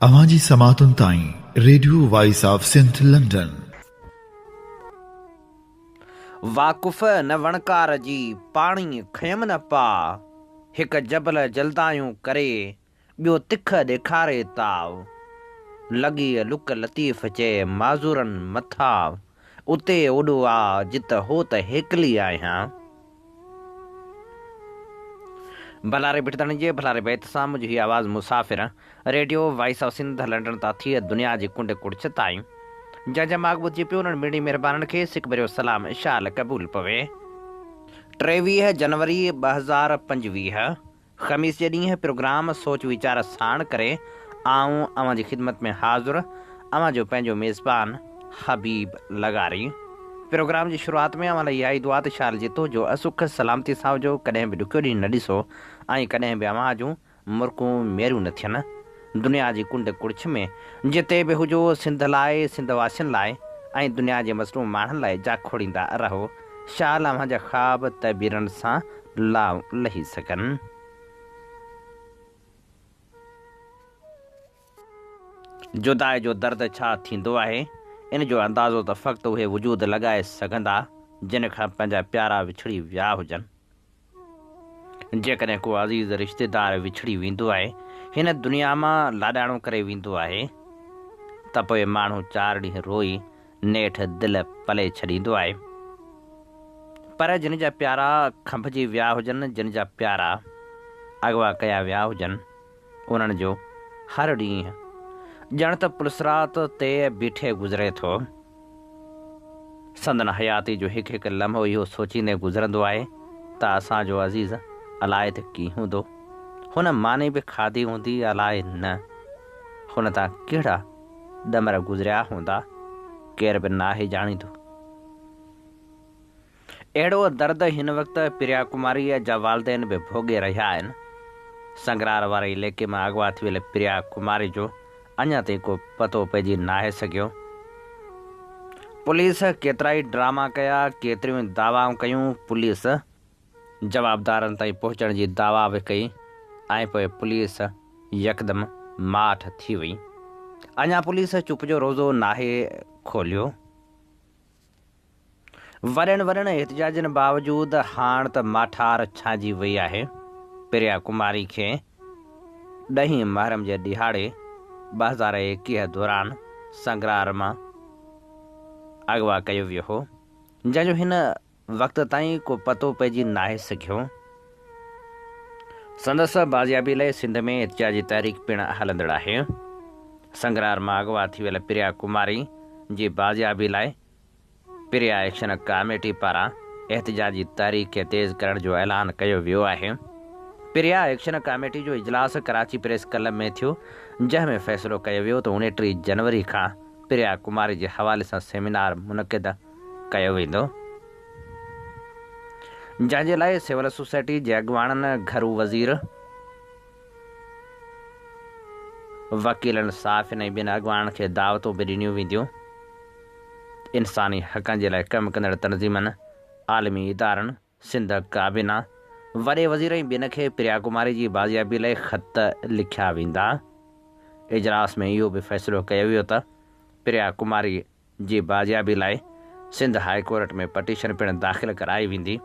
اوهان جي سماعتن تائين radio voice of Sindh London. واقف نه وڻڪار جي پاڻي کنيم نه پاء هڪ جبل جلدايون ڪري ٻيو تک ڏيکاري تاء لڳي لڪ لطيف چئي معذورن مٿا. اتي اوڏو آ جت هو ته هيڪلي آهيان. ڀلا ري ڀٽدڻ جي ڀلا ري بيت سان منهنجي هي آواز مسافر radio voice of Sindh London تان ٿئي دنيا جي ڪنڊ ڪڙڇ تائين جنهن جا ماڳ ٻڌجي پيو انهن ميڙي مهربانن کي سڪ ڀريو سلام شال قبول پوي. ٽيويهه جنوري ٻه هزار پنجويهه خميس جي ڏينهن پروگرام سوچ ويچار ساڻ ڪري آئون اوهان جي خدمت ۾ حاضر اوهان جو پنهنجو ميزبان حبيب لغاري پروگرام جي شروعات ۾ اوهان لاء اها ئي دعا ته شال جتو جو اسک سلامتي سان هجو ڪڏهن به ڏکيو ڏينهن نه ڏسو ۽ ڪڏهن به اوهان جون مرڪون ميرون نه ٿين. دنيا جي ڪنڊ ڪڙڇ ۾ جتي به هجو سنڌ لاء، سنڌ واسين لاء ۽ دنيا جي مظلوم ماڻهن لاء جا کوڙيندا رهو شال اوهان جا خواب تعبيرن سان لا لهي سگهن. جدائي جو درد ڇا ٿيندو آهي ان جو اندازو ته فقط اهي وجود لڳائي سگهندا جن کان پنهنجا پيارا وڇڙي ويا هجن. جيڪڏهن ڪو عزيز رشتيدار وڇڙي ويندو آهي، هن دنيا مان لاڏاڻو ڪري ويندو آهي ته پوء ماڻهو چار ڏينهن روئي نيٺ دل پلي ڇڏيندو آهي. پر جن جا پيارا کنڀجي ويا هجن، جن جا پيارا اغوا ڪيا ويا هجن، انهن جو هر ڏينهن ڄڻ ته پلسرات تي بيٺي گذري ٿو. سندن حياتي جو هڪ هڪ لمحو اهو سوچيندي گذرندو آهي ته اسان جو عزيز الاء ته ڪي هوندو. هن ماني به کاڌي هوندي الاء نه هن تان ڪهڙا ڏمر گذريا هوندا ڪير به ناهي ڄاڻيندو. اهڙو درد هن وقت پريا ڪماريء جا والدين به ڀوڳي رهيا آهن. سنگرار واري عليقي مان اغوا ٿيل پريا ڪماري جو اڃا تائين ڪو پتو پئجي ناهي سگهيو. پوليس ڪيترائي ڊراما ڪيا، ڪيتريون دعوائون ڪيون، پوليس جوابدارن تائين پهچڻ جي دعويٰ به ڪئي ۽ پوء پوليس يڪدم ماٺ ٿي وئي. اڃا پوليس چپ جو روزو ناهي کوليو. ورهين ورهين احتجاجن باوجود هاڻ ته ماٺار ڇانئجي وئي آهي. پريا ڪماري کي ڏهين محرم جي ڏهاڙي ٻه هزار ايڪيهه دوران سنگرار مان اغوا ڪيو ويو هو، جنهن جو هن وقت تائين ڪو پتو پئجي ناهي سگهيو. سندس بازيابي لئه سنڌ ۾ احتجاجي تحريڪ پڻ هلندڙ آهي. سنگرار مان اغوا ٿي ويل پريا ڪماري جي بازيابي لئه پريا ايڪشن ڪاميٽي پاران احتجاجي تحريڪ کي تيز ڪرڻ جو اعلان ڪيو ويو آهي. پريا ايڪشن ڪاميٽي جو اجلاس ڪراچي پريس ڪلب ۾ ٿيو جنهن ۾ فيصلو ڪيو ويو ته اڻٽيهه جنوري کان پريا ڪماري جي حوالي سان سيمينار منعقد ڪيو ويندو. جنهن جي لاء سول سوسائٽي جي اڳواڻن، گهرو وزير، وڪيلن، صحافين ۽ ٻين اڳواڻن کي دعوتون به ڏنيون وينديون. انساني حقن جي لاء ڪم ڪندڙ تنظيمن، عالمي ادارن، سنڌ ڪابينا، وڏي وزير ۽ ٻين کي پريا ڪماري جي بازيابي لاء خط لکيا ويندا. اجلاس ۾ اهو به فيصلو ڪيو ويو ته پريا ڪماري جي بازيابي لاء سنڌ هاء ڪورٽ ۾ پٽيشن پڻ داخل ڪرائي ويندي.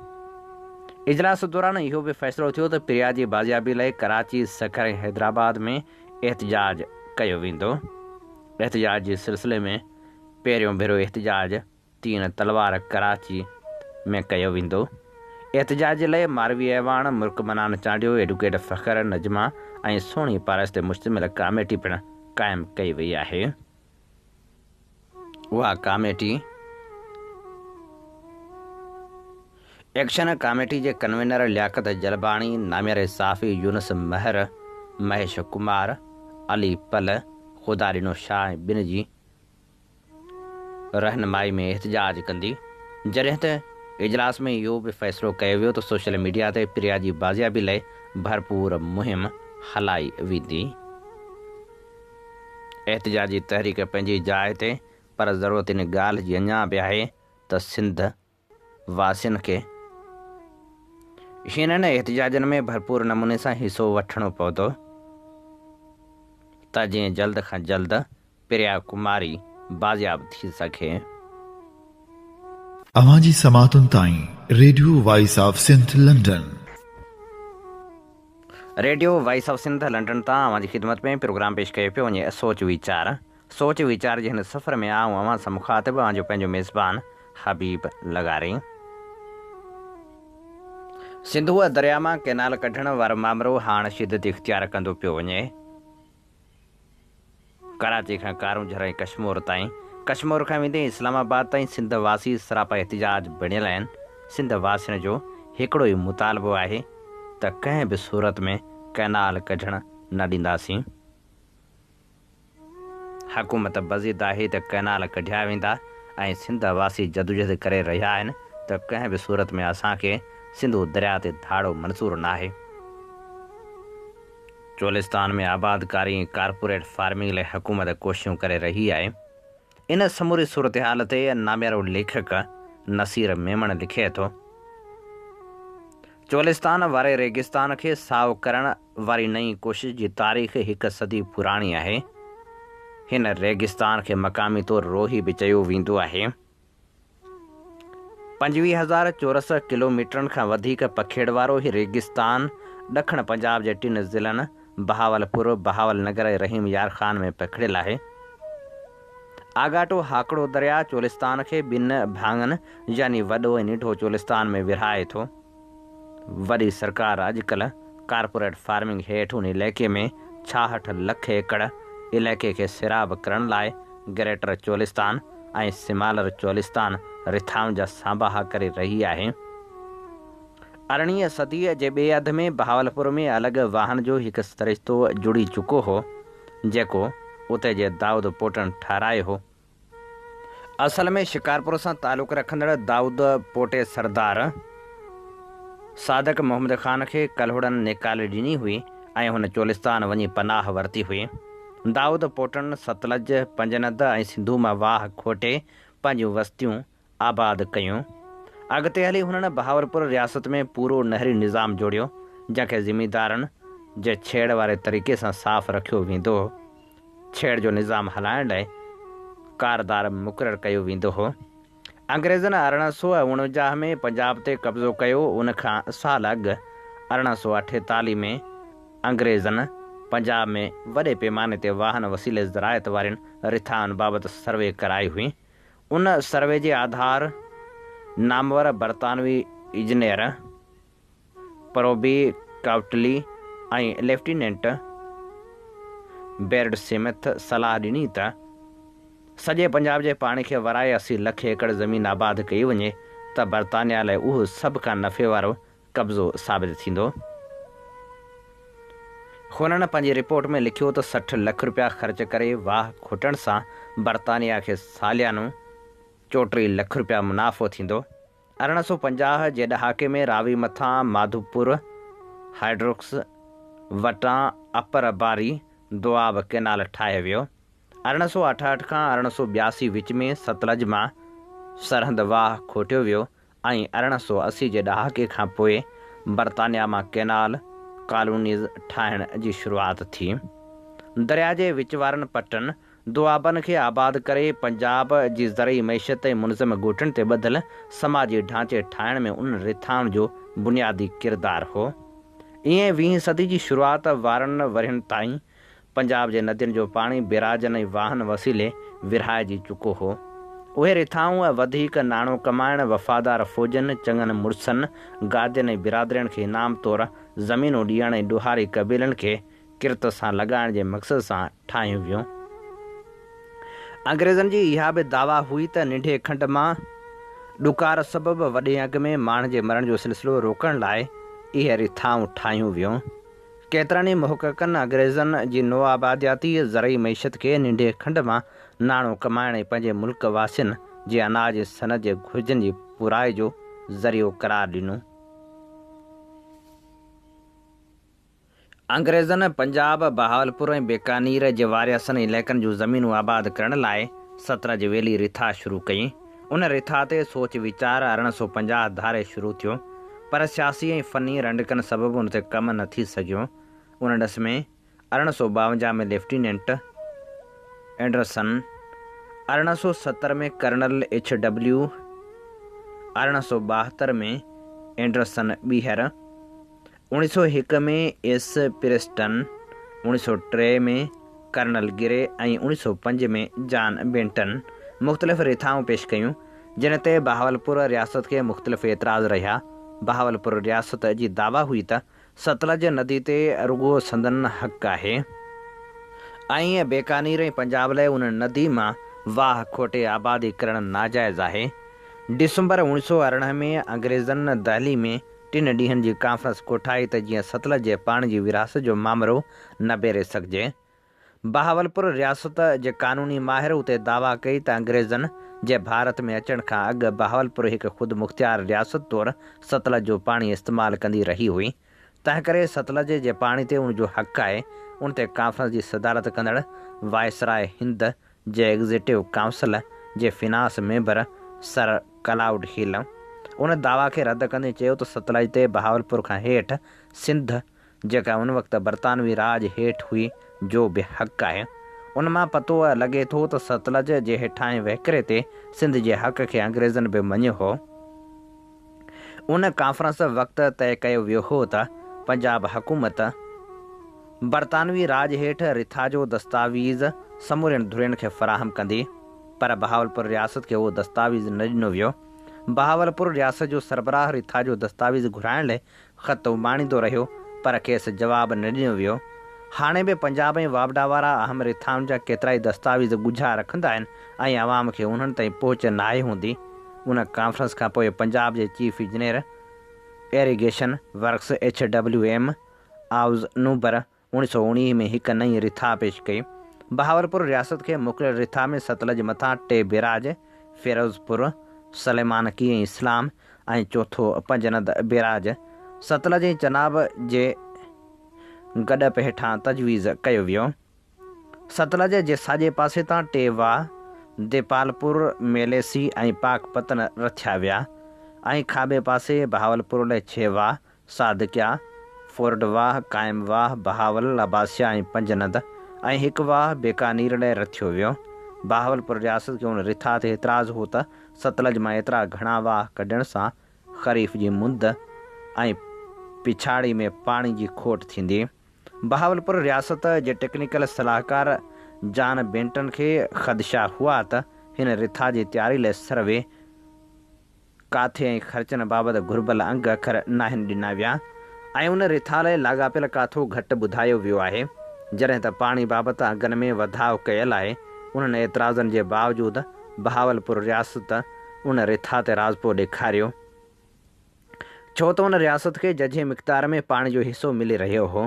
اجلاس دوران اهو به فيصلو ٿيو ته پريا جي بازيابي لاء ڪراچي، سکر ۽ حيدرآباد ۾ احتجاج ڪيو ويندو. احتجاج جي سلسلي ۾ پهريون ڀيرو احتجاج تين تلوار ڪراچي ۾ ڪيو ويندو. احتجاج جي لئه ماروي اعواڻ، مرڪ منان چانڊيو، ايڊوڪيٽ فخر، نجمه ۽ سهڻي پارس تي مشتمل ڪاميٽي پڻ قائم ڪئي وئي آهي. اها ڪاميٽي ايڪشن ڪاميٽي جي ڪنوينر لياقت جلباڻي، نامياري صحافي يونس مهر، مهيش ڪمار، علي پل، خدا ڏنو شاهه ۽ ٻين جي رهنمائي ۾ احتجاج ڪندي، جڏهن ته اجلاس ۾ اهو به فيصلو ڪيو ويو ته سوشل ميڊيا تي پريا جي بازيابي لئي ڀرپور مهم هلائي ويندي. احتجاجي تحريڪ پنهنجي جاء تي پر ضرورت ان ڳالهه جي اڃا به آهي ته سنڌ واسين کي هنن احتجاجن ۾ ڀرپور نموني سان حصو وٺڻو پوندو ته جيئن جلد کان جلد پريا ڪماري بازياب ٿي سگهي. اوهان جي سماعتن تائين radio voice of Sindh London. Radio voice of Sindh London تان اوهان جي خدمت ۾ پروگرام پيش ڪيو پيو وڃي سوچ ويچار سوچ ويچار جي هن سفر ۾ آئون اوهان سان مخاطب اوهان جو پنهنجو ميزبان حبيب لغاري. سنڌوء درياء مان ڪئنال ڪڍڻ وارو مامرو هاڻ شدت اختيار ڪندو پيو وڃي. ڪراچي کان ڪارونجهر ۽ ڪشمور تائين، ڪشمور کان ويندي اسلام آباد تائين سنڌ واسي سراپا احتجاج بڻيل آهن، سنڌ واسين جو هڪڙو ئي مطالبو آهي ته ڪنهن به صورت ۾ ڪئنال ڪڍڻ نه ڏينداسين، حڪومت به ضد آهي ته ڪئنال ڪڍيا ويندا ۽ سنڌ واسي جدوجهد ڪري رهيا آهن ته ڪنهن به صورت ۾ اسان کي سنڌو درياء تي ڌاڙو منظور ناهي. چولستان ۾ آبادڪاري ۽ ڪارپوريٽ فارمنگ لاء حڪومت ڪوششون ڪري رهي آهي. ان سموري صورتحال تي ناميارو ليکڪ نصير ميمڻ لکي ٿو، چولستان واري ريگستان کي سائو ڪرڻ واري نئين ڪوشش جي تاريخ هڪ صدي پراڻي آهي. هن ريگستان کي مقامي طور روهي به چيو ويندو آهي. پنجويهه هزار چورس ڪلوميٽرن کان وڌيڪ پکيڙ وارو هي ريگستان ڏکڻ پنجاب جي ٽن ضلعن بهاولپور، بهاول نگر ۽ رحيم يار خان ۾ پکڙيل آهي. آڳاٽو هاڪڙو درياء چولستان کي ٻن ڀاڱن يعني وڏو ۽ ننڍو چولستان ۾ ورهائي ٿو. وڏي سرڪار اڄڪلهه ڪارپوريٽ فارمنگ هيٺ ان علائقي ۾ ڇاهٺ لک ايڪڙ علائقي کي سيراب ڪرڻ لاء گريٽر چولستان ۽ سمالر چولستان رٿائن جا سانباها ڪري رهي آهي. ارڙهين صديء جي ٻئي اڌ ۾ بهاولپور ۾ الڳ واهن جو هڪ سرشتو جڙي چڪو هو، جيڪو اتي جي دائود پوٽن ٺهرايو هو. اصل ۾ شڪارپور سان تعلق رکندڙ دائود پوٽي سردار صادق محمد خان کي ڪلهوڙن نيڪالي ڏني هئي ۽ هن چولستان وڃي پناهه ورتي هئي. دائود پوٽن ستلج، پنجند ۽ سنڌو مان واهه کوٽي پنهنجيون وستيون آباد ڪيون. اڳتي هلي هنن بهاولپور رياست ۾ پورو نهري نظام جوڙيو، جنهن کي زميندارن جي ڇيڙ واري طريقي سان صاف رکيو ويندو هو. ڇيڙ جو نظام هلائڻ لاء ڪاردار مقرر ڪيو ويندو هو. انگريزن ارڙهن سؤ اڻونجاهه ۾ پنجاب تي قبضو ڪيو، ان کان سال اڳ ارڙهن سؤ اٺيتاليهه ۾ انگريزن پنجاب ۾ وڏي پيماني تي واهن وسيلي زراعت وارين رٿائن بابت سروي ڪرائي هئي، ان سروي جي آڌار نامور برطانوي engineer Proby Cautley ۽ lieutenant Baird Smith صلاح ڏني ته سڄي پنجاب جي پاڻي کي ورائي اسي لک ايڪڙ زمين آباد ڪئي وڃي ته برطانيا لاء اهو سڀ کان نفعي وارو قبضو ثابت ٿيندو. هنن پنهنجي رپورٽ ۾ لکيو ته سٺ لک رپيا خرچ ڪري واهه کوٽڻ سان برطانيا کي ساليانو چوٽيهه لک رپيا منافعو ٿيندو. ارڙهن سؤ پنجاهه جي ڏهاڪي ۾ راوي مٿان ماڌوپور هائيڊروڪس وٽان اپر باري دوآب ڪئنال ٺاهيو ويو. ارڙهن سؤ اٺاهٺ کان ارڙهن سؤ ٻياسي وچ ۾ ستلج مان سرهند واهه کوٽيو ويو ۽ ارڙهن سؤ اسي جي ڏهاڪي کان پوء برطانيا مان ڪينال، ڪالونيز، ٺاهڻ جي شروعات ٿي. درياء جي وچ وارن پٽن، دوآبن کي آباد ڪري پنجاب جي زرعي معيشت ۽ منظم ڳوٺن تي ٻڌل سماجي ڍانچي ٺاهڻ ۾ ان رٿائن جو بنيادي ڪردار هو. ائين ويهين صدي جي شروعات وارن ورهين تائين پنجاب جي ندين جو پاڻي بيراجن ۽ واهن وسيلي ورهائجي چڪو هو. اهي رٿائون ۽ وڌيڪ ناڻو ڪمائڻ وفادار فوجين، چڱن مڙسن، گادين ۽ برادرين کي انعام طور زمينون ڏيڻ ۽ ڏوهاري قبيلن کي ڪرت سان لڳائڻ جي مقصد سان ٺاهيون ويون. انگريزن جي اها به دعويٰ هئي ته ننڍي کنڊ مان ڏڪار سبب وڏي انگ ۾ ماڻهن جي مرڻ جو سلسلو روڪڻ لاء اهي رٿائون ٺاهيون ويون. ڪيترن ئي محققن اگريزن جي نوآبادياتي زرعي معيشت کي ننڍي کنڊ مان ناڻو ڪمائڻ ۽ پنهنجي ملڪ واسين جي اناج ۽ صنعت جي گهرجن جي پورائي جو ذريعو قرار ڏنو. انگريزن پنجاب، بهاولپور ۽ بيڪانير جي وارياسن علائقن جون زمينون آباد ڪرڻ لاء سترنج ويلي رٿا شروع ڪيون. ان رٿا تي سوچ ويچار ارڙهن سؤ پنجاهه ڌاري شروع ٿيو، پر سياسي ۽ فني رنڊڪن سبب ان تي ڪم نه ٿي سگهيو. ان ڏس ۾ ارڙهن سؤ ٻاونجاهه ۾ ليفٽيننٽ اينڊرسن، ارڙهن سؤ ستر ۾ ڪرنل ايڇ ڊبليو، ارڙهن سؤ ٻاهتر ۾ اينڊرسن ٻيهر، اوڻيھ سؤ هڪ ۾ ايس پريسٽن، اوڻيھ سؤ ٽي ۾ ڪرنل گري ۽ اوڻيھ سؤ پنج ۾ جان بينٽن مختلف رٿائون پيش ڪيون، جن تي بهاولپور رياست کي مختلف اعتراض رهيا. بهاولپور رياست جي دعويٰ هئي ته ستلج ندي تي رڳو سندن حق آهي ۽ بيڪانير ۽ پنجاب لاء ان ندي مان واهه کوٽي آبادي ڪرڻ ناجائز آهي. ڊسمبر اوڻيھ سؤ ارڙهن ۾ انگريزن دهلي ۾ ٽن ڏينهن جي ڪانفرنس ڪوٺائي ته جيئن ستلج جي پاڻي جي ورهاست جو مامرو نبيري سگهجي. بهاولپور رياست جي قانوني ماهر اتي دعويٰ ڪئي ته انگريزن جي ڀارت ۾ اچڻ کان اڳ بهاولپور هڪ خودمختيار رياست طور ستلج جو پاڻي استعمال ڪندي رهي هئي، تنهنڪري ستلج جي پاڻي تي ان جو حق آهي. ان تي ڪانفرنس جي صدارت ڪندڙ وائسراء هند جي ايگزيڪٽو ڪائونسل جي finance member sir Claude Hill ان دعويٰ کي رد ڪندي چيو ته ستلج تي بهاولپور کان هيٺ سنڌ جيڪا ان وقت برطانوي راڄ هيٺ هئي جو به حق آهي ان مان پتو لڳي ٿو ته ستلج جي هيٺاهين وهڪري تي سنڌ جي حق کي انگريزن به مڃيو هو. ان ڪانفرنس وقت طئي ڪيو ويو هو ته پنجاب حڪومت برطانوي راڄ هيٺ رٿاجو دستاويز سمورين ڌرين کي فراهم ڪندي پر بهاولپور رياست کي اهو دستاويز نه ڏنو ويو. بهاولپور رياست جو سربراهه رٿاجو دستاويز گهرائڻ لئي خط اماڻيندو رهيو، پر کيس جواب نه ڏنو ويو. هاڻي به پنجاب ۽ واپڊا وارا اهم رٿائن جا ڪيترائي دستاويز ڳجها رکندا آهن ۽ عوام کي انهن تائين پهچ ناهي هوندي. ان ڪانفرنس کان پوء پنجاب جي chief engineer irrigation works H W M آئوز نوبر، اوڻيھ سؤ اوڻيھ ۾ هڪ نئين رٿا پيش ڪئي. بهاولپور رياست کي موڪليل رٿا ۾ ستلج مٿان ٽي بيراج، فيروزپور، سليمان ڪي ۽ اسلام ۽ چوٿو پنجند بيراج، ستلج ۽ چناب جي گڏپ هيٺان تجويز ڪيو ويو. ستلج جي ساڄي پاسي تان ٽي واهه، ديپالپور، ميليسي ۽ پاڪ پتن رٿيا ويا ۽ کاٻي پاسي بهاولپور لئه ڇهه واهه، صادقيا، فورڊ واهه، قائم واهه، بهاول، لباسيا ۽ پنج ند ۽ هڪ واهه بيڪانير لاء رٿيو ويو. بهاولپور رياست کي ان رٿا تي اعتراض هو ته ستلج مان ايترا گهڻا واهه ڪڍڻ سان خريف جي مند ۽ پڇاڙي ۾ پاڻي جي کوٽ ٿيندي. بهاولپور رياست جي ٽيڪنيڪل صلاحڪار جان بينٽن کي خدشا هئا ته هن رٿا جي تياري لاء سروي، ڪاٿي ۽ خرچن بابت گهربل انگ اکر ناهن ڏنا ويا ۽ ان رٿالي لاڳاپيل ڪاٿو گهٽ ٻڌايو ويو آهي. جڏهن ته پاڻي بابت انگن ۾ وڌاء ڪيل آهي، انهن اعتراضن جي باوجود بهاولپور رياست ان رٿا تي راضپو ڏيکاريو، ڇو ته ان رياست کي ججهي مقدار ۾ پاڻي جو حصو ملي رهيو هو.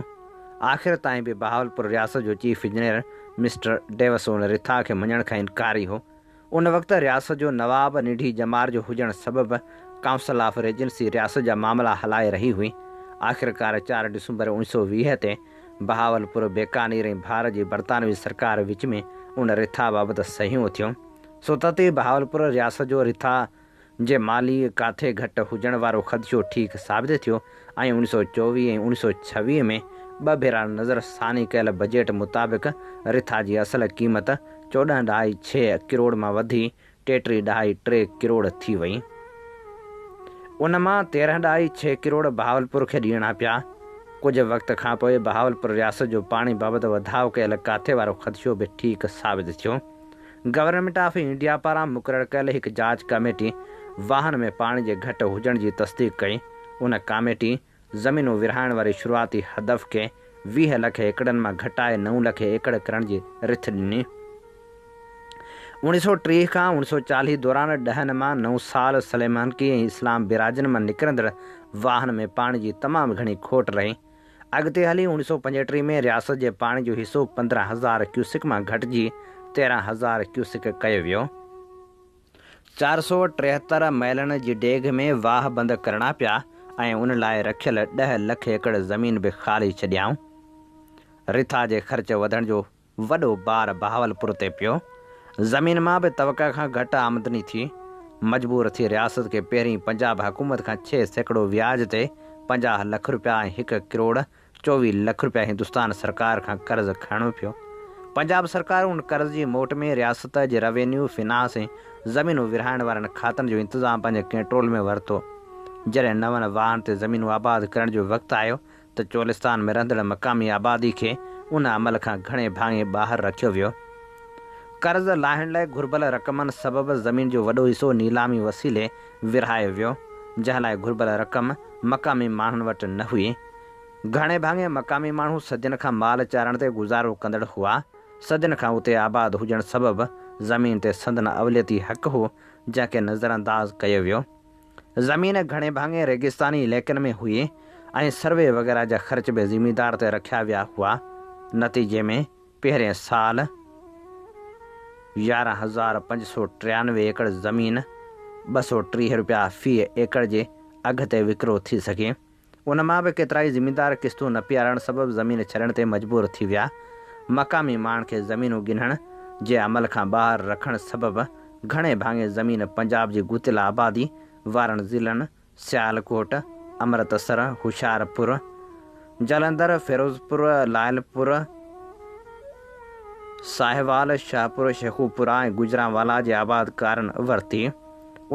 آخر تائين به بهاولپور رياست جو چيف انجنيئر مسٽر ڊيوس ان رٿا کي مڃڻ کان انڪاري هو. ان وقت رياست جو نواب ننڍي ڄمار جو هجڻ سبب ڪائونسل آف ريجنسي رياست جا معاملا هلائي رهي هئي. آخرڪار چار ڊسمبر اوڻيھ سؤ ويهه تي بهاولپور، بيڪانير ۽ ڀار جي برطانوي سرڪار وچ ۾ ان رٿا بابت صحيحون ٿيون. سو ته تي بهاولپور رياست جو رٿا جي مالي ڪاٿي گهٽ هجڻ وارو خدشو ٺيڪ ثابت ٿيو ۽ اڻ سؤ چوويهه ۽ اڻ سؤ ڇويهه ۾ ٻه ڀيرا نظر ثاني ڪيل بجيٽ مطابق رٿا جي اصل قيمت چوڏهن ڏهائي ڇهه ڪروڙ مان وڌي ٽيٽيهه ڏهائي ٽي ڪروڙ ٿي وئي ان مان تيرهن ڏهائي ڇهه ڪروڙ بهاولپور کي ڏيڻا پيا ڪجهه وقت کانپوء بهاولپور رياست جو پاڻي بابت وڌاء ڪيل ڪاٿي وارو خدشو به ٺيڪ ثابت ٿيو گورنمينٽ آف انڊيا پاران مقرر ڪيل هڪ جاچ ڪاميٽي واهن ۾ پاڻي جي گهٽ هجڻ جي تصديق ڪئي، ان ڪاميٽي زمينون ورهائڻ واري شروعاتي هدف کي ويهه لک ايڪڙن مان گهٽائي نو لک ايڪڙ ڪرڻ جي رٿ ڏني. اوڻي سؤ ٽيهه کان اوڻي سؤ چاليهه دوران ڏهن مان نو سال سليمانڪي ۽ اسلام بيراجن مان نڪرندڙ واهن ۾ پاڻي جي تمام گهڻي کوٽ رهي، اڳتي هلي اوڻيهه سؤ پنجهٽيهه ۾ رياست جي پاڻي جو حصو پندرهن هزار ڪيوسڪ مان گهٽجي تيرهن هزار ڪيوسڪ ڪيو ويو. چار سؤ ٽيهتر مئلن جي ڊيگهه ۾ واهه بند ڪرڻا پيا ۽ ان لاء رکيل ڏهه لک ايڪڙ زمين به خالي ڇڏيائون. رٿا جي خرچ وڌڻ جو وڏو بار بهاولپور تي پيو، زمين مان به توقع کان گهٽ آمدني ٿي، مجبور ٿي رياست کي پهرين پنجاب حڪومت کان ڇهه سيڪڙو وياج تي پنجاهه لک رپيا ۽ هڪ ڪروڙ چوويهه لک رپيا هندستان سرڪار کان قرض کڻڻو پيو، پنجاب سرڪار ان قرض جي موٽ ۾ رياست جي روينيو، فنانس ۽ زمينون ورهائڻ وارن کاتن جو انتظام پنهنجي ڪنٽرول ۾ ورتو، جڏهن نون واهن تي زمينون آباد ڪرڻ جو وقت آيو ته چولستان ۾ رهندڙ مقامي آبادي کي ان عمل کان گهڻي ڀاڱي ٻاهر رکيو ويو. قرض لاهڻ لاء گهربل رقمن سبب زمين جو وڏو حصو نيلامي وسيلي ورهايو ويو، جنهن لاء گهربل رقم مقامي ماڻهن وٽ نه هئي. گهڻي ڀاڱي مقامي ماڻهو صدين کان مال چارڻ تي گذارو ڪندڙ هئا. صدين کان اتي آباد هجڻ سبب زمين تي سندن اوليتي حق هو، جنهن کي نظرانداز ڪيو ويو. زمين گهڻي ڀاڱي ريگستاني علائقن ۾ هئي ۽ سروي وغيره جا خرچ به زميندار تي رکيا ويا هئا. نتيجي ۾ پهرين سال يارهن هزار پنج سؤ ٽيانوي ايڪڙ زمين ٻه سؤ ٽيهه رپيا في ايڪڙ جي اگهه تي وڪرو ٿي سگهي. ان مان به ڪيترائي زميندار قسطون نه پيارڻ سبب زمين ڇڏڻ تي مجبور ٿي ويا. مقامي ماڻهن کي زمينون ڳنهڻ جي عمل کان ٻاهر رکڻ سبب گهڻي ڀاڱي زمين پنجاب جي گهتيل آبادي وارن ضلعن سيالڪوٽ، امرتسر، هوشيارپور، جالندر، فيروزپور، لعلپور، ساهيوال، شاهپور شيخوپورا ۽ گوجرانوالا جي آبادڪارن ورتي.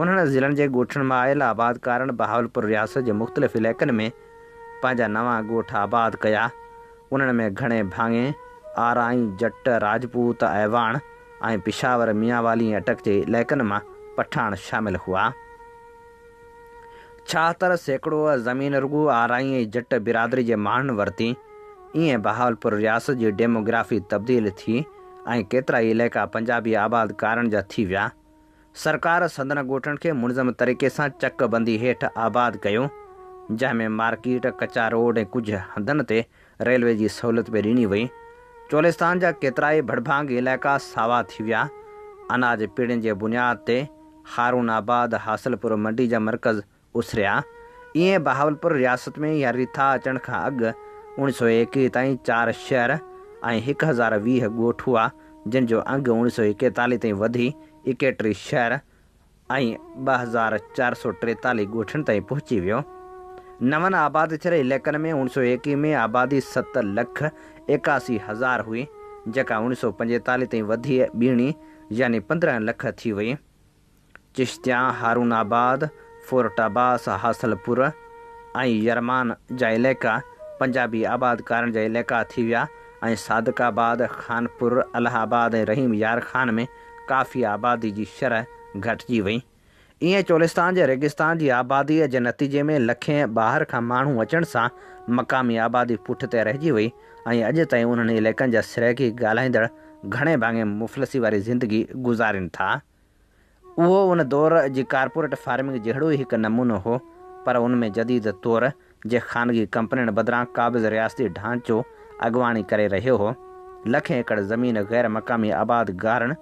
انهن ضلعن جي ڳوٺن مان آيل آبادڪارن بهاولپور رياست جي مختلف علائقن ۾ پنهنجا نوان ڳوٺ آباد ڪيا. انهن ۾ گهڻي ڀاڱي آرائين، جٽ، راجپوت، اعواڻ ۽ پشاور، ميانوالي ۽ اٽڪ جي علائقن مان پٺاڻ شامل هئا. ڇاهتر سيڪڙو زمين رڳو آرائين ۽ جٽ برادري جي ماڻهن ورتي. ائين بهاولپور رياست جي ڊيموگرافي تبديل ٿي ۽ ڪيترائي علائقا پنجابي آبادڪارن جا ٿي ويا. سرڪار سندن ڳوٺن کي منظم طريقي سان چڪ بندي هيٺ آباد ڪيو، جنهن ۾ مارڪيٽ، ڪچا روڊ ۽ ڪجهه هنڌن تي ريلوي جي سهولت به ڏني وئي. چولستان جا ڪيترائي ڀڙڀانگي علائقا ساوا ٿي ويا. اناج پيڙهين جي بنياد تي هارون آباد، حاصلپور منڊي جا مرڪز اسريا، ايئن بهاولپور رياست ۾ يا ريٿا اچڻ کان اڳ اوڻيھ سؤ ايڪويھ تائين چار شهر ۽ هڪ هزار ويھ ڳوٺ هئا، جن جو انگ اوڻيھ سؤ ايڪيتاليھ تائين وڌي ايڪيٽيھ شهر ۽ ٻه هزار چار سؤ ٽيتاليھ ڳوٺن تائين پهچي ويو. نون آباد ٿيل عليقن ۾ اوڻيھ سؤ ايڪويھ ۾ آبادي ست لک ايڪاسي هزار هئي، جيڪا اوڻيھ سؤ پنجيتاليھ تائين وڌي ٻيڻي يعني پندرهن لک ٿي وئي. چشتيان هارون آباد، فورٽ عباس، حاصل پور ۽ يرمان جا عليقا پنجابي آبادڪارن جا عليقا ٿي ويا ۽ صادق آباد، خانپور، الهه آباد ۽ رحيم يار خان ۾ ڪافي آبادي جي شرح گهٽجي وئي. ايئن چولستان جي ريگستان جي آباديء جي نتيجي ۾ لکين ٻاهر کان ماڻهو اچڻ سان مقامي آبادي پٺتي رهجي وئي ۽ اڄ تائين انهن عليقن جا سرائيڪي ڳالهائيندڙ گهڻي ڀاڱي مفلسي واري زندگي گذارين ٿا. اهو ان دور جي ڪارپوريٽ فارمنگ جهڙو ئي هڪ نمونو هو، پر ان ۾ جديد طور جي خانگي ڪمپنين بدران قابض رياستي ڍانچو اڳواڻي ڪري رهيو هو. لکين ايڪڙ زمين غير مقامي آبادگارن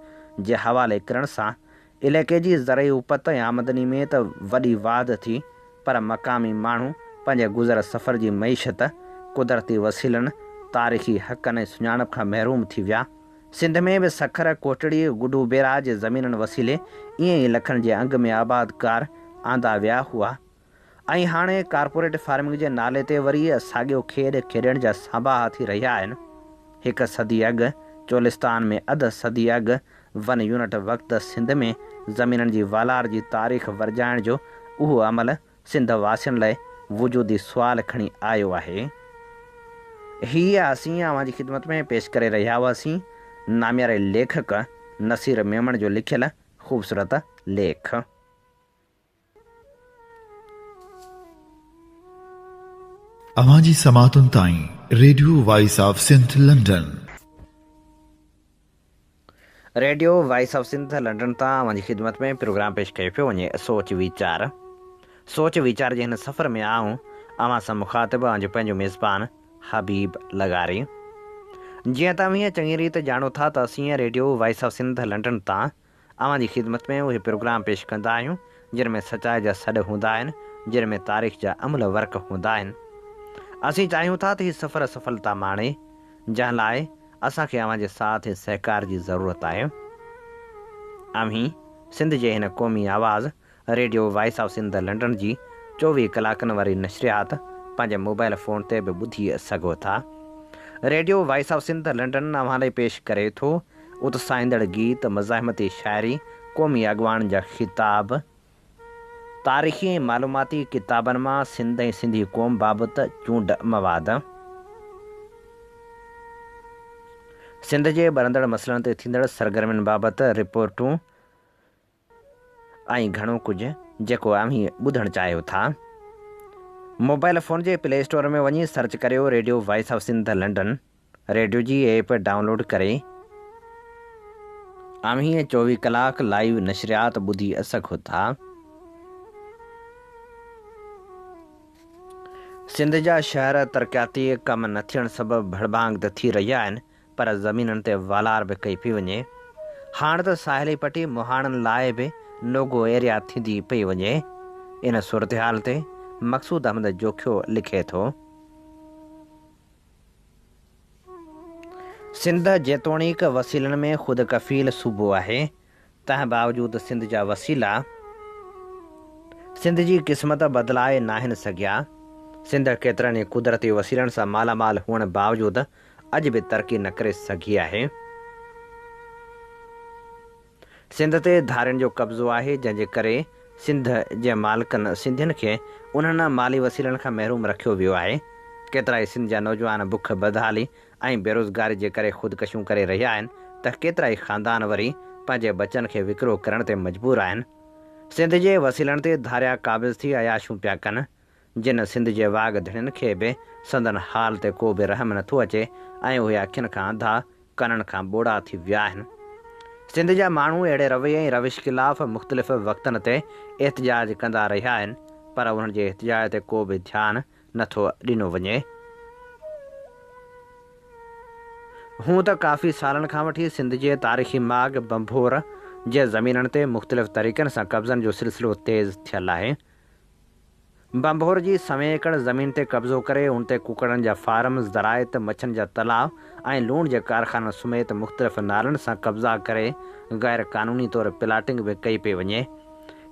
جي حوالي ڪرڻ سان عليقي جي زرعي اوپت ۽ آمدني ۾ ته وڏي واڌ ٿي، پر مقامي ماڻهو پنهنجي گذر سفر جي معيشت، قدرتي وسيلن، تاريخي حقن ۽ سڃاڻپ کان محروم ٿي ويا. سنڌ ۾ به سکر، ڪوٽڙي، گڊو بيراج جي زمينن وسيلي ايئن ئي لکن جي انگ ۾ آباد ڪار آندا ويا هئا ۽ هاڻي ڪارپوريٽ فارمنگ جي نالي تي وري ساڳيو کيڏ کيڏڻ جا سانباها ٿي رهيا آهن. هڪ صدي اڳ چولستان ۾ اڌ صدي اڳ ون يونٽ وقت سنڌ ۾ زمينن جي والار جي تاريخ ورجائڻ جو اهو عمل سنڌ واسين لاء وجودي سوال کڻي آيو آهي. هي اسين اوهان جي خدمت ۾ پيش ڪري رهيا هئاسين نامياري ليکڪ نصير ميمڻ جو لکيل خوبصورت ليک. اوهان جي سماعتن تائين radio voice of Sindh London. Radio voice of Sindh London تان اوهان جي خدمت ۾ پروگرام پيش ڪيو پيو وڃي سوچ ويچار سوچ ويچار جي هن سفر ۾ آئون اوهان سان مخاطب اوهان جو پنهنجو ميزبان حبيب لغاري جيئن ته اوهين چڱي ريت ڄاڻو ٿا ته اسين radio voice of Sindh London تان اوهان جي خدمت ۾ اهي پروگرام پيش ڪندا آهيون جن ۾ سچائي جا سڏ هوندا آهن جن ۾ تاريخ جا املهه ورق هوندا آهن اسين چاهيون ٿا ته هي سفر سڦلتا ماڻي جنهن لاء اسان کي اوهان جي ساٿ ۽ سهڪار جي ضرورت آهي اوهين سنڌ جي هن قومي آواز radio voice of Sindh London جي چوويهه ڪلاڪن واري نشريات پنهنجي موبائيل فون تي به ٻڌي سگهو ٿا. Radio voice of Sindh London اوهان لاء پيش ڪري ٿو اتساهيندڙ گيت، مزاحمتي شاعري، قومي اڳواڻن جا خطاب، تاريخي ۽ معلوماتي ڪتابن مان سنڌ ۽ سنڌي قوم بابت چونڊ مواد، سنڌ جي ٻرندڙ مسئلن تي ٿيندڙ سرگرمين بابت رپورٽون، ۽ گهڻو ڪجهه جيڪو اوهين ٻڌڻ چاهيو ٿا. موبائيل فون جي پلي اسٽور ۾ وڃي سرچ ڪريو radio voice of Sindh London radio جي ايپ ڊائونلوڊ ڪري اوهين چوويهه ڪلاڪ لائيو نشريات ٻڌي اسگهو ٿا. سنڌ جا شهر ترقياتي ڪم نه ٿيڻ سبب ڀڙڀانگ ته ٿي رهيا آهن پر زمينن تي والار به ڪئي پئي وڃي. هاڻ ته ساحلي پٽي مهاڻن لاء به نو گو ايريا ٿيندي پئي وڃي. ان صورتحال تي مقصود احمد جوکيو لکي ٿو. سنڌ جيتوڻيڪ وسيلن ۾ خود ڪفيل صوبو آهي تنهن باوجود سنڌ جا وسيلا سنڌ جي قسمت بدلائي ناهن سگهيا. سنڌ ڪيترن ئي قدرتي وسيلن سان مالا مال هئڻ باوجود اڄ به ترقي نه ڪري سگهي آهي. سنڌ تي ڌارين جو قبضو آهي، جنهن جي ڪري سنڌ جي مالڪن سنڌين کي انهن مالي وسيلن کان محروم رکيو ويو آهي. ڪيترائي سنڌ جا نوجوان بک، بدحالي، ۽ بيروزگاري جي ڪري خودڪشيون ڪري رهيا آهن ته ڪيترائي خاندان وري پنهنجي ٻچن کي وڪرو ڪرڻ تي مجبور آهن. سنڌ جي وسيلن تي ڌاريا قابض ٿي عياشيون پيا ڪن، جن سنڌ جي واڳ ڌڻين کي به سندن حال تي ڪو به رحم نه ٿو اچي ۽ اهي اکين کان انڌا، ڪنن کان ٻوڙا ٿي ويا آهن. سنڌ جا ماڻهو اهڙي رويي ۽ روش خلاف مختلف وقتن تي احتجاج ڪندا رهيا آهن، پر انهن جي احتجاج تي ڪو به ڌيان نه ٿو ڏنو وڃي. هونء ته ڪافي سالن کان وٺي سنڌ جي تاريخي ماڳ ڀنڀور جي زمينن تي مختلف طريقن سان قبضن جو سلسلو تيز ٿيل آهي. ڀنڀور جي سوين ايڪڙ زمين تي قبضو ڪري ان تي ڪڪڙن جا فارم، زراعت، مڇن جا تلاء ۽ لوڻ جي ڪارخانن سميت مختلف نالن سان قبضا ڪري غيرقانوني طور پلاٽنگ به ڪئي پئي وڃي.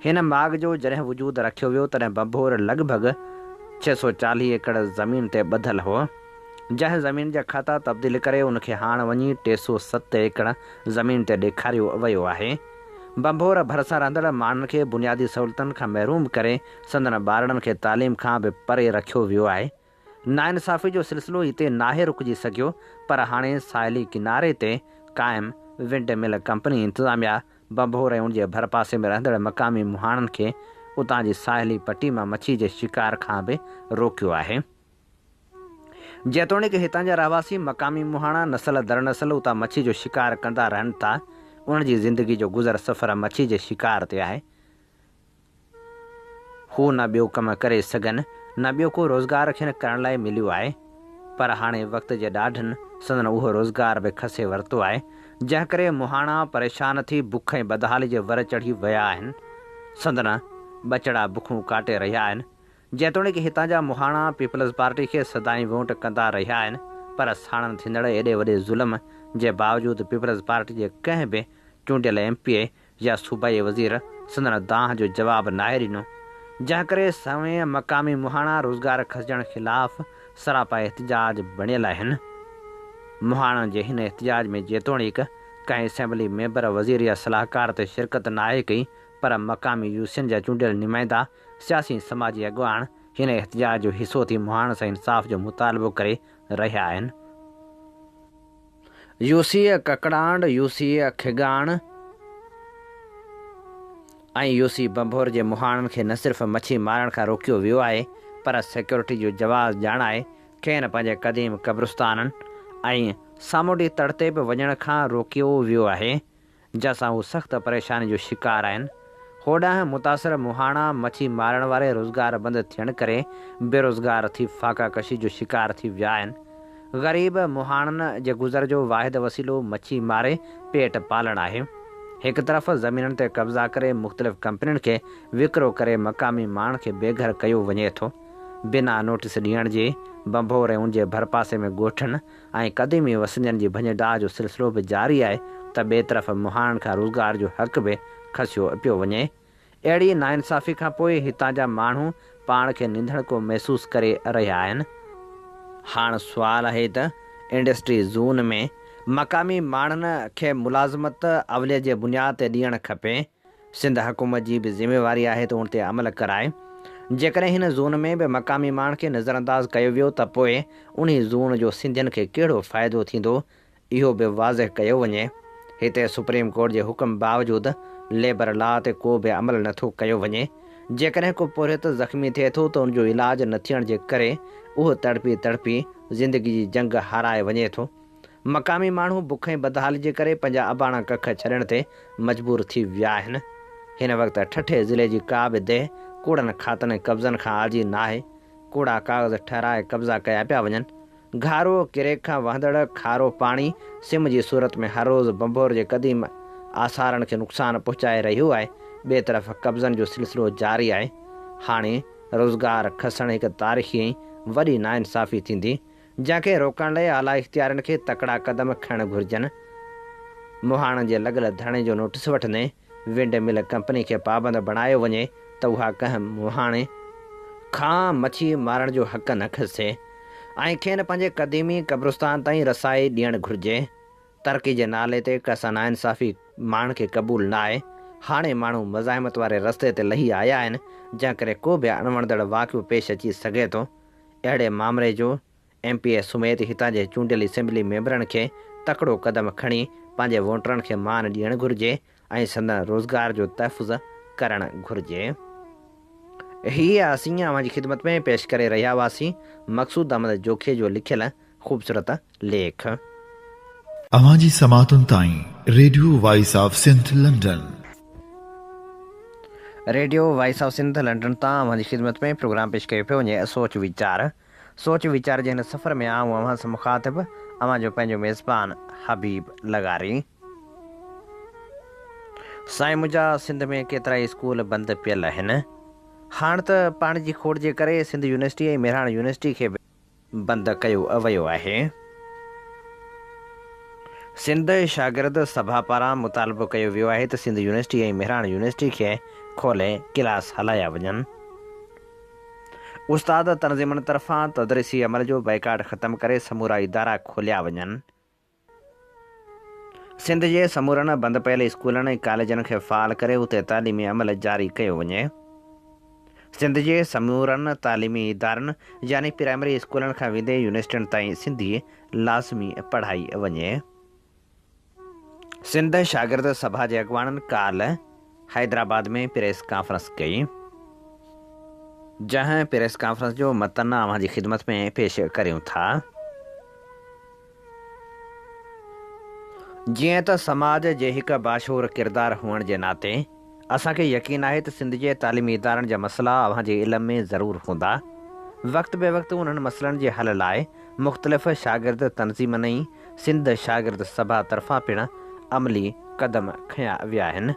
هن ماڳ جو جڏهن وجود رکيو ويو تڏهن ڀنڀور لڳ ڀڳ ڇهه سؤ چاليهه ايڪڙ زمين تي ٻڌل هو، جنهن زمين جا کاتا تبديل ڪري ان کي هاڻ وڃي ٽي سؤ ست ايڪڙ زمين تي ڏيکاريو ويو آهي. ڀنڀور ڀرسان رهندڙ ماڻهن کي بنيادي سهولتن کان محروم ڪري سندن ٻارڙن کي تعليم کان به پري رکيو ويو آهي. ناانصافي جو سلسلو هتي ناهي رڪجي سگهيو پر هاڻي ساحلي ڪناري تي قائم ونڊ مل ڪمپني انتظاميا ڀنڀور ۽ ان جي ڀرپاسي ۾ رهندڙ مقامي مهاڻن کي اتان جي ساحلي پٽي مان مڇي جي شڪار کان به روڪيو آهي. جيتوڻيڪ هتان جا رهواسي مقامي مهاڻا نسل در نسل اتان مڇي جو شڪار ڪندا رهن ٿا انهن جي زندگي جو گذر سفر مڇي جي شڪار تي آهي. هو نه ٻيو ڪم ڪري سگهن، نه ٻيو ڪو روزگار کين ڪرڻ لاء مليو آهي، پر هاڻي وقت جي ڏاڍن سندن اهو روزگار به کسي ورتو آهي، جنهن ڪري مهاڻا پريشان ٿي بک ۽ بدحالي جي ور چڙهي ويا آهن. سندن ٻچڙا بکون ڪاٽي رهيا آهن. جيتوڻيڪ هتان جا مهاڻا پيپلز پارٽي کي سدائين وونٽ ڪندا رهيا آهن، پر ساڻن ٿيندڙ ايڏي وڏي ظلم جي باوجود پيپلز پارٽي جي ڪنهن به چونڊيل ايم پي اي يا صوبائي وزير سندن دانهن جو جواب ناهي ڏنو، جنهن ڪري سوين مقامي مهاڻا روزگار کسجڻ خلاف سراپا احتجاج بڻيل آهن. مهاڻن جي هن احتجاج ۾ جيتوڻيڪ ڪنهن اسيمبلي ميمبر، وزير يا صلاحڪار ته شرڪت ناهي ڪئي پر مقامي يو سين جا چونڊيل نمائندا، سياسي ۽ سماجي اڳواڻ هن احتجاج جو حصو ٿي مهاڻن سان انصاف جو مطالبو ڪري رهيا آهن. يوسيء ڪڪڙانڊ، يوسيء کڳاڻ ۽ يوسي ڀنڀور جي مهاڻن کي نه صرف مڇي مارڻ کان روڪيو ويو آهي پر سيڪيورٽي جو جواز ڄاڻائي کين پنهنجي قديم قبرستانن ۽ سامونڊي تڙ تي به وڃڻ کان روڪيو ويو آهي جنهن سان هو سخت پريشاني جو شڪار آهن. هوڏانهن متاثر مهاڻا مڇي مارڻ واري روزگار بند ٿيڻ ڪري بيروزگار ٿي فاقه ڪشي جو شڪار ٿي ويا آهن. غريب مهاڻن جي گذر جو واحد وسيلو مڇي ماري پيٽ پالڻ آهي. هڪ طرف زمينن تي قبضا ڪري مختلف ڪمپنين کي وڪرو ڪري مقامي ماڻهن کي بي گهر ڪيو وڃي ٿو. بنا نوٽيس ڏيڻ جي بنڀوريون جي ڀرپاسي ۾ ڳوٺن، ۽ قديمي وسندين جي ڀڃ ڊاهه جو سلسلو به جاري آهي ته ٻئي طرف مهاڻن کان روزگار جو حق به کسيو پيو وڃي. اهڙي ناانصافي کان پوء هتان جا ماڻهو پاڻ کي ننڌڻڪو محسوس ڪري رهيا آهن. هاڻ سوال آهي ته انڊسٽري زون ۾ مقامي ماڻهن کي ملازمت اوليه جي بنياد تي ڏيڻ کپي سنڌ حڪومت جي به ذميواري آهي ته ان تي عمل ڪرائي. جيڪڏهن هن زون ۾ به مقامي ماڻهن کي نظرانداز ڪيو ويو ته پوء انهي زون جو سنڌين کي ڪهڙو فائدو ٿيندو اهو به واضح ڪيو وڃي. هتي سپريم ڪورٽ جي حڪم باوجود ليبر لا تي ڪو به عمل نه ٿو ڪيو وڃي. جيڪڏهن ڪو پورهيت زخمي ٿئي ٿو ته ان جو علاج نه ٿيڻ جي ڪري اهو تڙپي تڙپي زندگي جي جنگ هارائي وڃي ٿو. مقامي ماڻهو بک ۽ بدحالي جي ڪري پنهنجا اباڻا ڪک ڇڏڻ تي مجبور ٿي ويا آهن. هن وقت ٺٽي ضلعي جي ڪا به ديهه ڪوڙن کاتن ۽ قبضن کان آجي ناهي. ڪوڙا ڪاغذ ٺهرائي قبضا ڪيا پيا وڃن. گهارو، ڪريڪ کان وهندڙ کارو پاڻي سم جي صورت ۾ هر روز ڀنڀور جي قديم آثارن کي نقصان پهچائي رهيو آهي. ٻئي طرف قبضن جو سلسلو جاري آهي. هاڻي روزگار کسڻ هڪ تاريخي ۽ وڏي ناانصافي ٿيندي. جنهن کي روڪڻ لاء اعليٰ اختيارين کي تڪڙا قدم کڻڻ گهرجن، مهاڻن جي لڳل ڌرڻي جو نوٽيس وٺندي ونڊ مل ڪمپني کي پابند بڻايو وڃي ته اها ڪنهن مهاڻي کان مڇي مارڻ جو حق نه کسي ۽ کين پنهنجي قديمي قبرستان تائين رسائي ڏيڻ گهرجي، ترقي جي نالي تي ڪس ناانصافي ماڻهن کي قبول ناهي، هاڻي ماڻهو مزاحمت واري رستي تي لهي آيا آهن جنهن ڪري ڪو به اڻوڻندڙ واقعو پيش اچي سگهي ٿو. اهڙي مامري جو ايم پي اي سميت هتان جي چونڊيل اسيمبلي ميمبرن کي تڪڙو قدم کڻي پنهنجي ووٽرن کي مان ڏيڻ گهرجي ۽ سندن روزگار جو تحفظ ڪرڻ گهرجي. هي اسين اوهان جي خدمت ۾ پيش ڪري رهيا هئاسين مقصود احمد جوکي جو لکيل خوبصورت ليک. اوهان جي سماعتن تائين radio voice of Sindh London. Radio voice of Sindh London تان اوهان جي خدمت ۾ پروگرام پيش ڪيو پيو وڃي سوچ ويچار. سوچ ويچار جي هن سفر ۾ آئون اوهان سان مخاطب اوهان جو پنهنجو ميزبان حبيب لغاري. سائين منهنجا سنڌ ۾ ڪيترائي اسڪول بند پيل اهن. هاڻ ته پاڻي جي کوڙ جي ڪري سنڌ يونيورسٽي ۽ مهراڻ يونيورسٽي کي به. بند ڪيو ويو آهي. سنڌ شاگرد سڀا پاران مطالبو ڪيو ويو آهي ته سنڌ يونيورسٽي ۽ مهراڻ يونيورسٽي کي کولي ڪلاس هلايا وڃن. استاد تنظيمن طرفان تدريسي عمل جو بائيڪاٽ ختم ڪري سمورا ادارا کوليا وڃن. سنڌ جي سمورن بند پيل اسڪولن ۽ ڪاليجن کي فعال ڪري اتي تعليمي عمل جاري ڪيو وڃي. سنڌ جي سمورن تعليمي ادارن يعني پرائمري اسڪولن کان ويندي يونيورسٽين تائين سنڌي لازمي پڙهائي وڃي. سنڌ شاگرد سڀا جي اڳواڻن ڪالهه حيدرآباد ۾ پريس ڪانفرنس ڪئي. جنهن پريس ڪانفرنس جو متن اوهان جي خدمت ۾ پيش ڪريون ٿا. جيئن ته سماج جي هڪ باشعور ڪردار هئڻ جي ناتي اسان کي يقين آهي ته سنڌ جي تعليمي ادارن جا مسئلا اوهان جي علم ۾ ضرور هوندا. وقت بي وقت انهن مسئلن جي حل لاء مختلف شاگرد تنظيمن ۽ سنڌ شاگرد سڀا طرفان پڻ عملي قدم کنيا ويا آهن.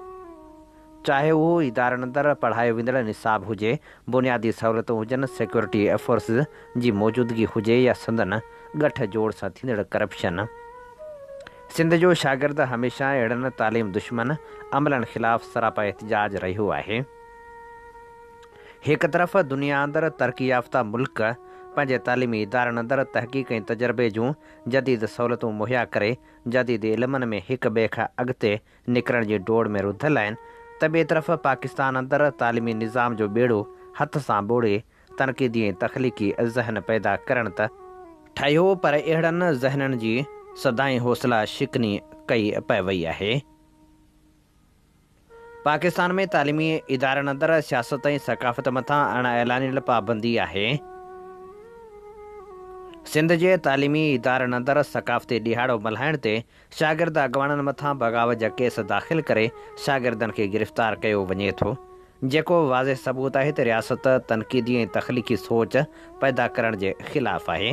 چاهي اهو ادارن اندر پڙهايو ويندڙ نصاب هجي، بنيادي سهولتون هجن، سيڪيورٽي فورسز جي موجودگي هجي يا سندن ڳٺ جوڙ سان ٿيندڙ ڪرپشن. سنڌ جو شاگرد هميشه اهڙن تعليم دشمن عملن خلاف سراپا احتجاج رهيو آهي. هڪ طرف دنيا اندر ترقي يافته ملڪ پنهنجي تعليمي ادارن اندر تحقيق ۽ تجربي جون جديد سهولتون مهيا ڪري جديد علمن ۾ هڪ ٻئي کان اڳتي نڪرڻ جي ڊوڙ ۾ رڌل آهن ته ٻئي طرف پاڪستان اندر تعليمي نظام جو ٻيڙو هٿ سان ٻوڙي تنقيدي ۽ تخليقي ذهن پيدا ڪرڻ ته ٺهيو پر اهڙن ذهنن جي سدائين حوصلا شڪني ڪئي پئي وئي آهي. پاڪستان ۾ تعليمي ادارن اندر سياست ۽ ثقافت مٿان اڻ اعلانيل پابندي آهي. سنڌ جي تعليمي ادارن اندر ثقافتي ڏهاڙو ملهائڻ تي شاگرد اڳواڻن مٿان بغاوت جا ڪيس داخل ڪري شاگردن کي گرفتار ڪيو وڃي ٿو، جيڪو واضح ثبوت آهي ته رياست تنقيدي ۽ تخليقي سوچ پيدا ڪرڻ جي خلاف آهي.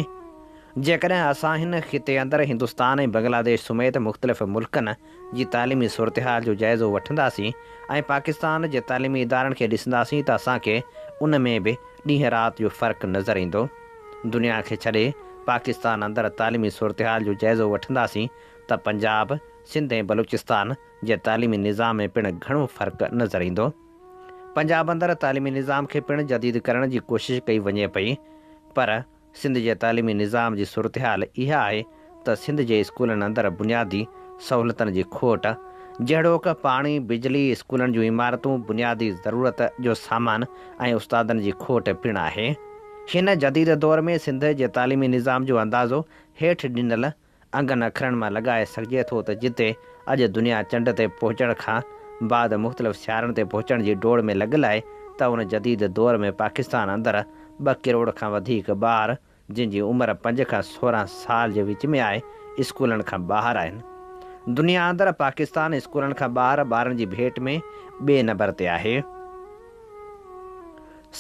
جيڪڏهن اسان هن خطي اندر هندستان ۽ بنگلاديش سميت مختلف ملڪن جي تعليمي صورتحال جو جائزو وٺنداسين ۽ پاڪستان جي تعليمي ادارن کي ڏسنداسين ته اسان کي ان ۾ به ڏينهن رات جو فرق نظر ايندو. دنيا کي ڇڏي پاڪستان اندر تعليمي صورتحال جو جائزو وٺنداسين ته پنجاب، سنڌ ۽ بلوچستان جي تعليمي نظام ۾ پڻ گهڻو فرق نظر ايندو. پنجاب اندر تعليمي نظام کي پڻ جديد ڪرڻ جي ڪوشش ڪئي وڃي پئي پر سنڌ جي تعليمي نظام جي صورتحال اها آهي ته سنڌ جي اسڪولن اندر بنيادي سهولتن جي کوٽ جهڙوڪ، پاڻي، بجلي، اسڪولن جون عمارتون، بنيادي ضرورت جو سامان ۽ استادن جي کوٽ پڻ آهي. هن جديد دور ۾ سنڌ جي تعليمي نظام جو اندازو هيٺ ڏنل انگن اکرن مان لڳائي سگهجي ٿو ته جتي اڄ دنيا چنڊ تي پهچڻ کان بعد مختلف سيارن تي پهچڻ جي ڊوڙ ۾ لڳل آهي ته ان جديد دور ۾ پاڪستان اندر ٻه ڪروڙ کان وڌيڪ ٻار جن جي عمر پنج کان سورهن سال جي وچ ۾ آهي، اسڪولن کان ٻاهر آهن. دنيا اندر پاڪستان اسڪولن کان ٻاهر ٻارن جي ڀيٽ ۾ ٻئي نمبر تي آهي.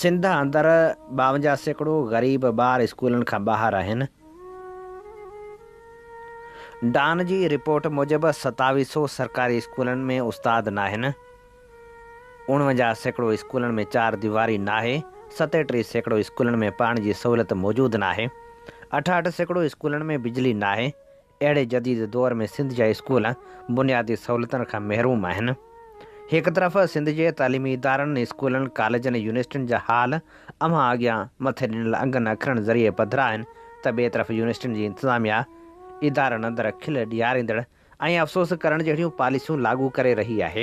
سنڌ اندر ٻاونجاهه سيڪڙو غريب ٻار اسڪولن کان ٻاهر آهن. ڊان جي رپورٽ موجب ستاويھ سو سرڪاري اسڪولن ۾ استاد ناهن. اڻونجاهه سيڪڙو اسڪولن ۾ چار ديواري ناهي، ستيٽيهه سيڪڙو اسڪولن ۾ پاڻي جي سهولت موجود ناهي، اٺاهٺ سيڪڙو اسڪولن ۾ بجلي ناهي، اهڙي جديد دور ۾ سنڌ جا اسڪول بنيادي سهولتن کان محروم آهن. هڪ طرف سنڌ جي تعليمي ادارن، اسڪولن، ڪاليجن ۽ يونيورسٽين جا حال اوهان اڳيان مٿي ڏنل انگن اکرن ذريعي پڌرا آهن ته ٻئي طرف يونيورسٽين جي انتظاميا، ادارن اندر کل ڏياريندڙ ۽ افسوس ڪرڻ جهڙيون پاليسيون لاڳو ڪري رهي آهي،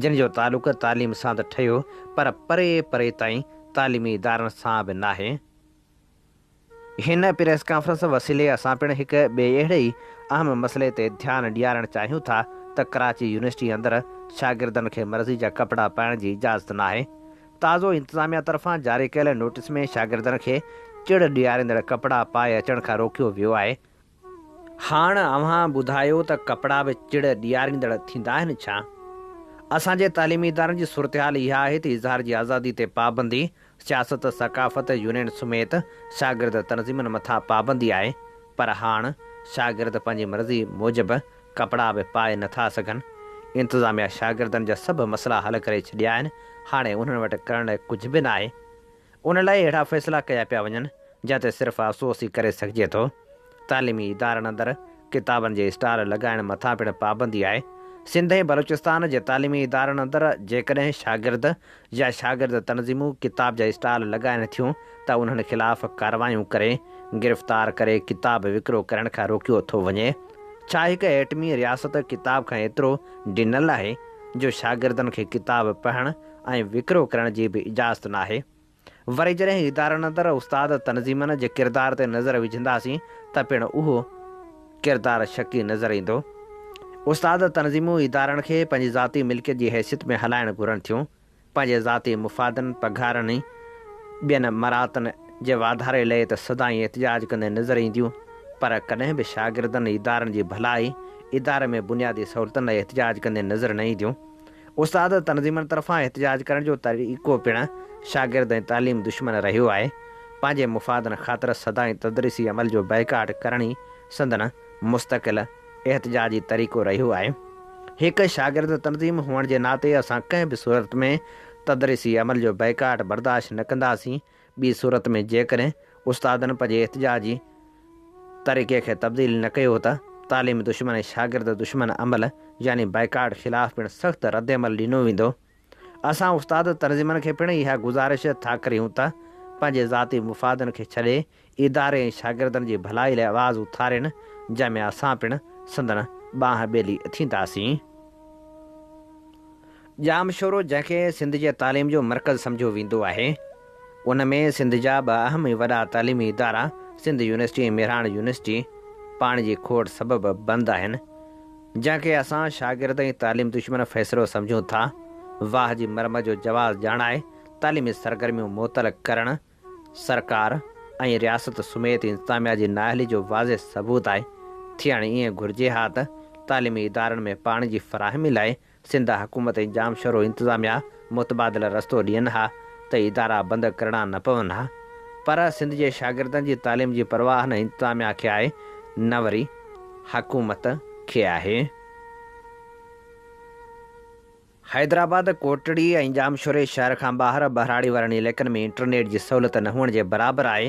جن جو تعلق تعليم سان ته ٺهيو پر پري پري تائين تعليمي ادارن سان به ناهي. هن پريس ڪانفرنس وسيلي اسان پڻ هڪ ٻئي اهڙي ئي اهم مسئلي تي ڌيان ڏيارڻ چاهيون ٿا ته ڪراچي يونيورسٽي اندر شاگردن کي مرضي جا ڪپڙا پائڻ جي اجازت ناهي. تازو انتظاميا طرفان جاري ڪيل نوٽيس ۾ شاگردن کي چڙ ڏياريندڙ ڪپڙا پائي اچڻ کان روڪيو ويو آهي، هاڻ اوهان ٻڌايو ته ڪپڙا به چڙ ڏياريندڙ ٿيندا آهن ڇا؟ اسان جي تعليمي ادارن جي صورتحال اها آهي ته اظهار جي آزادي تي پابندي، سياست، ثقافت، يونين سميت شاگرد تنظيمن مٿان پابندي آهي پر هاڻ شاگرد پنهنجي مرضي موجب ڪپڙا به پائي نه ٿا سگهن. انتظاميا شاگردن جا سڀ مسئلا حل ڪري ڇڏيا آهن، هاڻي انهن وٽ ڪرڻ لاء ڪجهه به ناهي. ان لاء اهڙا فيصلا ڪيا پيا وڃن، جنهن تي صرف افسوس ئي ڪري سگهجي ٿو. تعليمي ادارن اندر ڪتابن جي اسٽال لڳائڻ مٿان پڻ پابندي آهي. سنڌ ۽ بلوچستان جي تعليمي ادارن اندر جيڪڏهن شاگرد يا شاگرد تنظيمون ڪتاب جا اسٽال لڳائين ٿيون ته انهن خلاف ڪارروايون ڪري، گرفتار ڪري ڪتاب وڪرو ڪرڻ کان روڪيو ٿو وڃي. ڇا هڪ ايٽمي رياست ڪتاب کان ايترو ڊنل آهي، جو شاگردن کي ڪتاب پڙهڻ، ۽ وڪرو ڪرڻ جي به اجازت ناهي. وري جڏهن ادارن اندر استاد تنظيمن جي ڪردار تي نظر وجهنداسين ته پڻ اهو ڪردار شڪي نظر ايندو. استاد تنظيمون ادارن کي پنهنجي ذاتي ملڪيت جي حيثيت ۾ هلائڻ گهرن ٿيون، پنهنجي ذاتي مفادن، پگهارن ۽ ٻين مراعتن جي واڌاري لئي ته سدائين احتجاج ڪندي نظر اينديون پر ڪڏهن به شاگردن، ادارن جي ڀلائي، اداري ۾ بنيادي سهولتن لاء احتجاج ڪندي نظر نه اينديون. استاد تنظيمن طرفان احتجاج ڪرڻ جو طريقو پڻ شاگرد ۽ تعليم دشمن رهيو آهي. پنهنجي مفادن خاطر سدائين تدريسي عمل جو بائيڪاٽ ڪرڻ ئي سندن مستقل احتجاجي طريقو رهيو آهي. هڪ شاگرد تنظيم هئڻ جي ناتي اسان ڪنهن به صورت ۾ تدريسي عمل جو بائيڪاٽ برداشت نه ڪنداسين. ٻي صورت ۾ جيڪڏهن استادن پنهنجي احتجاجي طريقي کي تبديل نه ڪيو ته تعليم دشمن ۽ شاگرد دشمن عمل يعني بائيڪاٽ خلاف پڻ سخت ردعمل ڏنو ويندو. اسان استاد تنظيمن کي پڻ اها گذارش ٿا ڪريون ته پنهنجي ذاتي مفادن کي ڇڏي اداري ۽ شاگردن جي ڀلائي لاء آواز اٿارين، جنهن ۾ اسان پڻ سندن ٻانهن ٻيلي ٿينداسين. ڄامشورو جنهن کي سنڌ جي تعليم جو مرڪز سمجهيو ويندو آهي، ان ۾ سنڌ جا ٻه اهم ۽ وڏا تعليمي ادارا سنڌ يونيورسٽي ۽ مهراڻ يونيورسٽي پاڻي جي کوٽ سبب بند آهن، جنهن کي اسان شاگرد ۽ تعليم دشمن فيصلو سمجهون ٿا. واهه جي مرمت جو جواز ڄاڻائي تعليمي سرگرميون معطل ڪرڻ سرڪار ۽ رياست سميت انتظاميا جي نااهلي جو واضح ثبوت آهي، ٿيڻ ائين گهرجي ها ته تعليمي ادارن ۾ پاڻي جي فراهمي لاء سنڌ حڪومت ۽ ڄامشورو انتظاميا متبادل رستو ڏين ها ته ادارا بند ڪرڻا نه پون ها پر سنڌ جي شاگردن جي تعليم جي پرواهه نه انتظاميا کي آهي نه وري حڪومت کي آهي. حيدرآباد، ڪوٽڙي ۽ ڄامشوري شهر کان ٻاهر ٻهراڙي وارن عليقن ۾ انٽرنيٽ جي سهولت نه هئڻ جي برابر آهي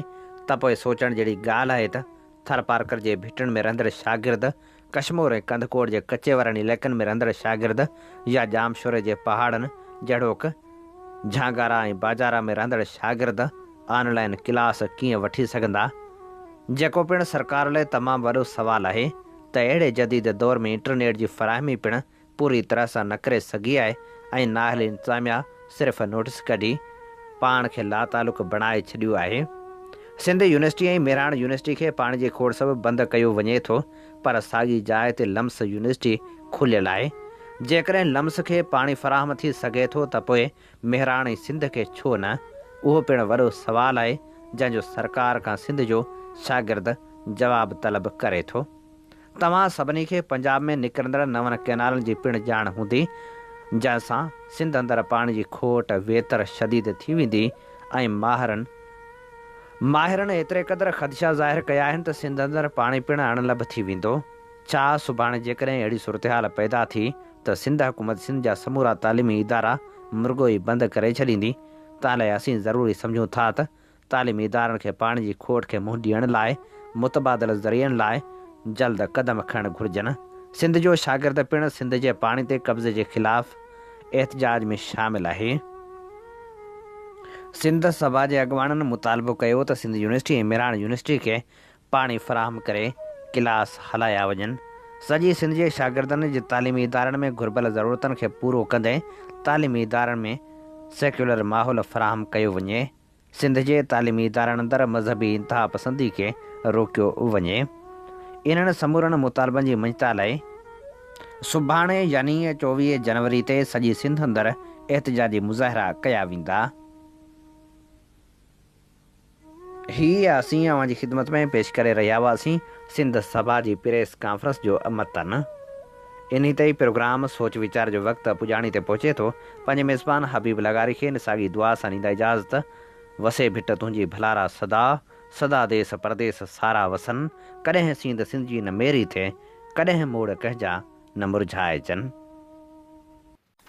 ته پوء سوچڻ جهڙي ڳالهه آهي ته ٿرپارڪر جي ڀٽن ۾ رهندڙ شاگرد، ڪشمور ۽ ڪنڌڪوٽ جي ڪچي وارن عليقن ۾ رهندڙ شاگرد يا ڄامشوري جي پهاڙن جهڙوڪ جهانگارا ۽ باجارا ۾ رهندڙ شاگرد آن لائين ڪلاس ڪيئن وٺي سگهندا جيڪو پڻ سرڪار لاء تمام وڏو سوال آهي ته اهڙي جديد دور ۾ انٽرنيٽ جي فراهمي پڻ پوري طرح سان نه ڪري سگهي آهي ۽ نااهل انتظاميا صرف نوٽيس ڪڍي پاڻ کي لاتعلق بڻائي ڇڏيو آهي. سنڌ يونيورسٽي ۽ مهراڻ يونيورسٽي کي پاڻي جي کوڙ سبب بند ڪيو وڃي ٿو پر ساڳي جاء تي لمس يونيورسٽي کليل آهي. جيڪڏهن لمس کي پاڻي فراهم ٿي سگهي ٿو ته پوء مهراڻ ۽ سنڌ کي ڇو نه؟ اهو پڻ وڏو سوال آهي جنهن جو سرڪار کان سنڌ جو شاگرد جواب طلب ڪري ٿو. توهان سڀني کي پنجاب ۾ نڪرندڙ نون ڪئنالن جي پڻ ڄاڻ هوندي، جنهن سان سنڌ اندر پاڻي جي کوٽ ويتر شديد ٿي ويندي ۽ ماهرن ماهرن ايتري قدر خدشا ظاهر ڪيا آهن ته سنڌ اندر پاڻي پڻ اڻ لڀ ٿي ويندو. ڇا سڀاڻي جيڪڏهن اهڙي صورتحال پيدا ٿي ته سنڌ حڪومت سنڌ جا سمورا تعليمي ادارا مرڳو ئي بند ڪري ڇڏيندي، تنهن لاء اسين ضروري سمجهون ٿا ته تعليمي ادارن کي پاڻي جي کوٽ کي منهن ڏيڻ لاء متبادل ذريعن لاء جلد قدم کڻڻ گهرجن، سنڌ جو شاگرد پڻ سنڌ جي پاڻي تي قبضي جي خلاف احتجاج ۾ شامل آهي، سنڌ سڀا جي اڳواڻن مطالبو ڪيو ته سنڌ يونيورسٽي ۽ مهراڻ يونيورسٽي کي پاڻي فراهم ڪري ڪلاس هلايا وڃن، سڄي سنڌ جي شاگردن جي تعليمي ادارن ۾ گهربل ضرورتن کي پورو ڪندي تعليمي ادارن ۾ سيڪيولر ماحول فراهم ڪيو وڃي. سنڌ جي تعليمي ادارن اندر مذهبي انتهاپسندي کي روڪيو وڃي، انهن سمورن مطالبن جي منجهتا لاء سڀاڻي يعني چوويهه جنوري تي سڄي سنڌ اندر احتجاجي مظاهرا ڪيا ويندا. هي اسين اوهان جي خدمت ۾ پيش ڪري رهيا هئاسين سنڌ سڀا جي پريس ڪانفرنس جو متن. انهي تي ئي پروگرام سوچ ويچار جو وقت پڄاڻي تي پهچي ٿو. پنهنجي ميزبان حبيب لغاري کي نساڳي دعا سان ڏيندا اجازت. وسي ڀٽ تنهنجي ڀلارا صدا، صدا ديس پرديس سارا وسن، ڪڏهن سينڌ سنڌجي نه ميري ٿئي، ڪڏهن موڙ ڪنهنجا نه مرجهائجن.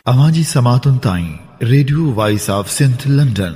اوهان جي سماعتن تائين radio voice of Sindh London.